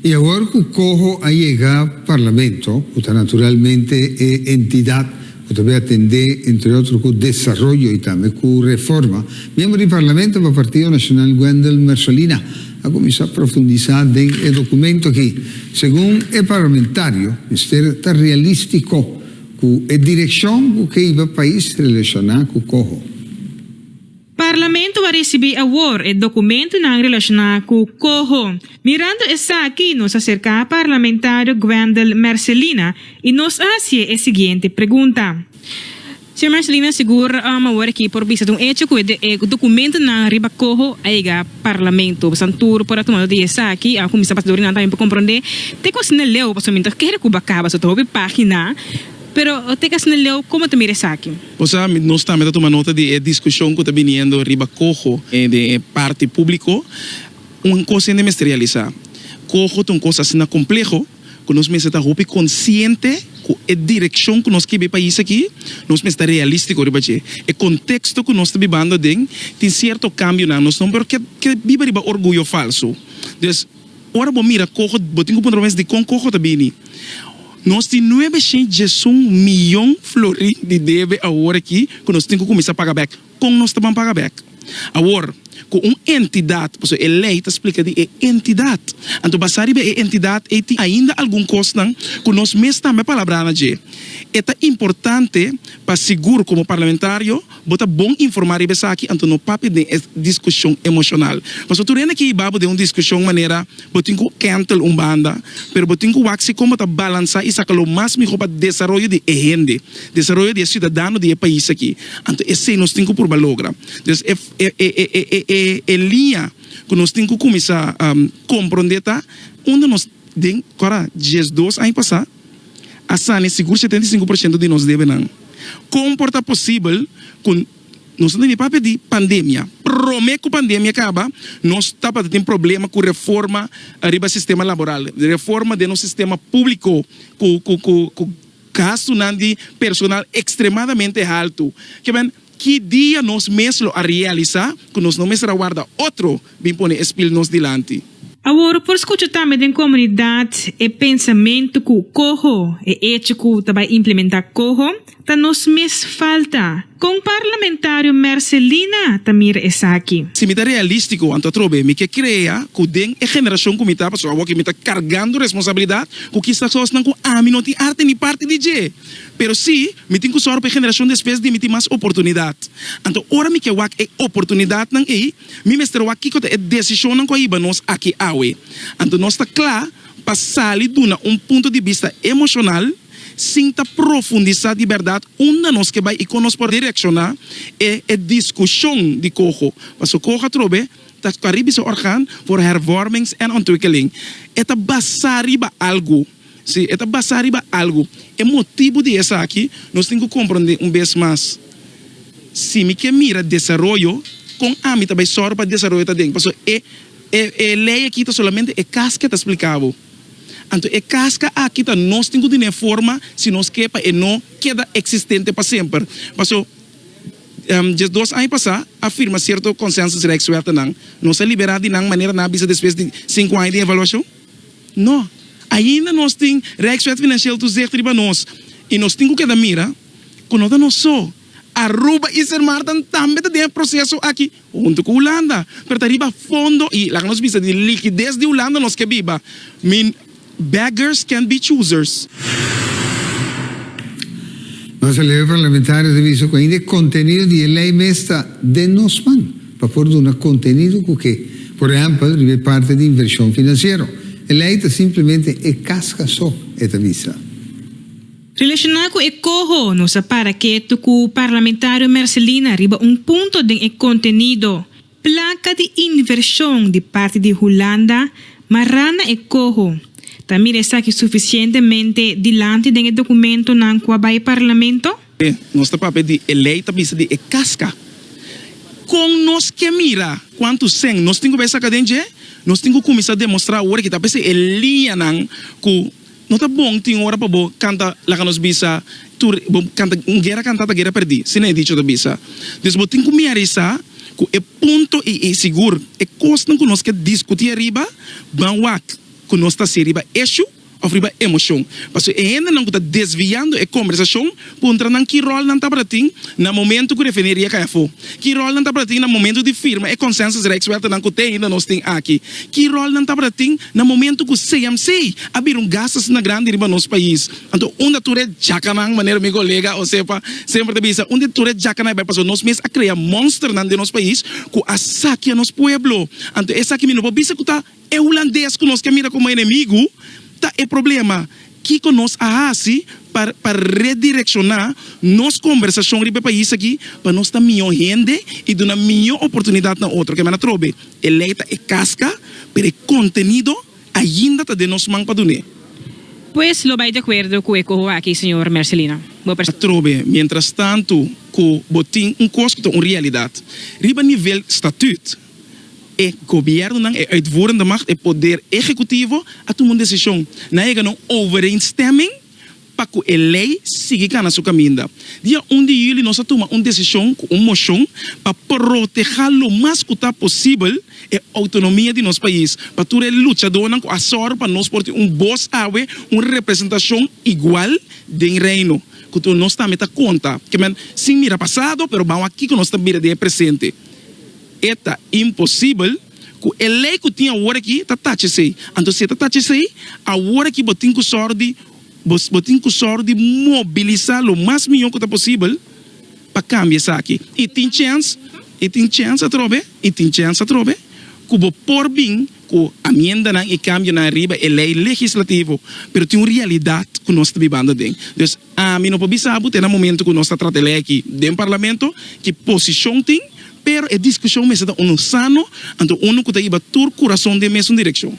Y awor cu Coho a yega Parlamento, cu ta naturalmente e entidad cu ta bin atende, entre otro, cu desaroyo y tambe cu reforma, miembro di Parlamento pa Partido Nacional Wendel Mersolina a cuminsa profundisa den e documento aki. Segun e parlamentario, mester ta realistico cu e direccion cu keiba pais relaciona cu Coho. Parlamento a ricibi awor e documentonan relaciona cu coho. Mirando esaki nos a cerca Parlamentario Gwendel Mercelina y nos a hacié e siguiente pregunta. Señor Mercelina, sigur awor aki por bisa un hecho cu e documentonan riba coho a yega Parlamento. Boso tur por a tuma nota di esaki, a cuminsa pasador y nan tambe por comprende te cu asina leu, pasobra mi ta kere cu ba caba so ta hopi pagina, pero te cu asina leu, como ta mira esaki? Bo sa, nos tambe ta tuma nota di e diskushon ku ta biniendo riba koho den e parti públiko. Un kos hende mester realisá, koho ta un kos asina kompleho ku nos mester ta hopi konsiente ku e direkshon ku nos kiba e pais akí, nos mester ta realístiko riba dje. E konteksto ku nos ta bibando aden tin sierto kambionan, nos no por ke biba riba orguyo falsu. Dus. Ora bo mira koho, bo tin ku puntra bo mes dikon koho ta bini. Nos tin nuebe shintsjesun miyon florin di debe awor aki ku nos tin ku kuminsá paga bèk. Kon nos ta ban paga bèk? Awor, ku un entidat, pasobra e lei ta splika di e entidat. Anto basá riba e entidat ei tin ainda algun kosnan ku nos mes tambe a palabranan dje. E ta importante pa sigur komo parlamentario. Bo ta bon informá riba esaki, anto no papia den e diskushon emoshonal. Pasobra tur hende ke hiba bo den un diskushon manera bo tin ku kèntel un banda, pero bo tin ku wak si kon bo ta balansá i saka lo mas mihó pa desaroyo di e hende, desaroyo di e siudadano di e pais aki. Anto esei nos tin ku purba logra. Dus e e liña ku nos tin ku kuminsá komprondé ta unda nos den kòrda dies dos aña pasá, a sane sigur setenta i sinku por shento di nos debenan. Kon por ta posibel ku nos no tin di papia di pandemia? Promé ku pandemia kaba, nos tabata tin problema ku reforma riba sistema laboral, reforma den nos sistema públiko ku gastunan di personal ekstremadamente haltu. Ki dia nos mes lo a realisa ku nos no mester a warda otro bin pone e spil nos dilanti? Awor por skucha tambe den komunidat e pensamentu ku koho, e echo ku ta bai implementá koho, ta nos mes falta. Kon parlamentario Mercelina ta mira esaki? Si mi ta realístiko, anto atrobe mi ke krea ku den e generashon ku mi ta, pasobra awor ke mi ta kargando responsabilidat ku kisa kosnan ku ami no tin arte ni parti di dje. Pero si, mi tin ku sòru pa e generashon despues di mi tin mas oportunidat. Anto ora mi ke wak e oportunidatnan ei, mi mester wak kiko ta e desishonnan ku a hiba nos aki awe. Anto nos ta kla pa sali duna un punto di bista emoshonal sin ta profundisá di bèrdat unda nos ke bai i kon nos por direkshoná e e diskushon di koho. Paso koho atrobe ta skua riba se òrgaan for hervormings en ontwikkeling. E ta basá riba algu. Si e ta basá riba algu, e motibu di esaki nos tin ku komprondé un bes mas. Si mi ke mira desaroyo, kon ami ta bai sòru pa desaroyo ta den? Pasobra e e lei akí ta solamente e kas ke ta spliká bo. Anto e kaska akí ta nos tin ku duna e forma si nos ke pa e no keda eksistente pa semper. Paso diesdos aña pasá a firma sierto konsensus rèkswètenan. Nos a liberá di nan manera nan a bisa despues di sinku aña di evaluashon? No. Ainda nos tin Rijkswet Financieel Toezicht riba nos i nos tin ku keda mira ku no ta nos so. Aruba i Sint Maarten tambe ta den e proseso aki huntu ku Hulanda, pero ta riba fondo i laga nos bisa di likides di Hulanda nos ke biba. Min, beggars can't be choosers. Nos a lei, e parlamentarios a bisa ku ainda e kontenido di e lei mes ta den nos man. Pa por duna contenido cu ke, por ehempel, riba e parte di inversion financiero. E ley ta simplemente e casca so, e ta bisa. Relaciona cu e coho, nos a para ketu cu Parlamentario Mercelina riba un punto den e contenido. Placa di inversion di parte di Hulanda mara na e coho. Ta mira esaki suficientemente dilanti den e documentonan cu a bay Parlamento? Nos ta papia di e lei ta bisa di e casca. Con nos ke mira cuantu seng nos tin cu bai saca den dje? Nos tin cu cuminsa demostra awor aki ta p'esei e liñanan cu no ta bon tin ora pa bo canta laga nos bisa tur bo canta un guera canta ta guera perdi si nan e dicho ta bisa. Dus bo tin cu miarisa cu e punto y y sigur e cosnan cu nos ke discuti ariba ban wak cu nos ta haci riba eshu. òf riba emoshon. Pasobra e hendenan ku ta desviando e kombersashon kontra nan ki ròl nan tabata tin na momentu ku refineria kai afó? Ki ròl nan tabata tin na momentu di firma e konsensus rijkswegtenan ku te ainda nos tin aki? Ki ròl nan tabata tin na momentu ku CMC a bira un gastasuna grandi riba nos pais? Anto unda tur e djakanan, manera mi kolega Osepa semper ta bisa, unda tur e djakanan a bai? Pasobra nos mes a krea monsternan den nos pais ku a sakia nos pueblo. Anto esaki mi no por bisa ku ta. E hulandes ku nos ke mira komo enemigu ta e problema. Kiko nos a hasi pa pa redirekshoná nos kombersashon riba e pais aki pa nos ta mihó hende i duna mihó oportunidat na otro? Kemana trobe, e lei ta e kaska, pero e kontenido ainda ta den nos man pa dun'é. Pues lo bai di akuerdo ku e koho aki, señor Mercelino. Bo. Atrobe, mientrastantu ku bo tin un kos ku ta un realidat riba nivel statüt. E gobièrnunan, e uitvoerende macht, e poder ehekutivo a tuma un desishon. Nan a yega na un overeenstemming pa ku e lei sigui kana su kaminda. Dia un di yüli nos a tuma un desishon ku un moshon pa protehá lo mas ku ta posibel e outonomia di nos pais pa tur e luchadónan ku a sòru pa nos por tin un bos awe un representashon igual den Reino ku tur nos tambe ta konta, ke men, sin mira pasado, pero ban wak kiko nos ta bira di e presente. E ta imposibel ku e lei ku tin awor aki ta tachi esei. Anto si e ta tachi esei, awor aki bo tin ku sòru di bo bo tin ku sòru di mobilisá lo mas mihó ku ta posibel pa kambia esaki. I tin chèns, i tin chèns atrobe, i tin chèns atrobe ku bo por bin. cu amiendanan y cambionan ariba e ley legislativo, pero tin un realidad cu nos ta bibando den. Dus, ami no por bisa bo te na momento cu nos ta trata e ley aki den Parlamento, ki posicion tin, pero e discusion mester ta unu sano, anto unu cu ta yiba tur curason den mesun direccion.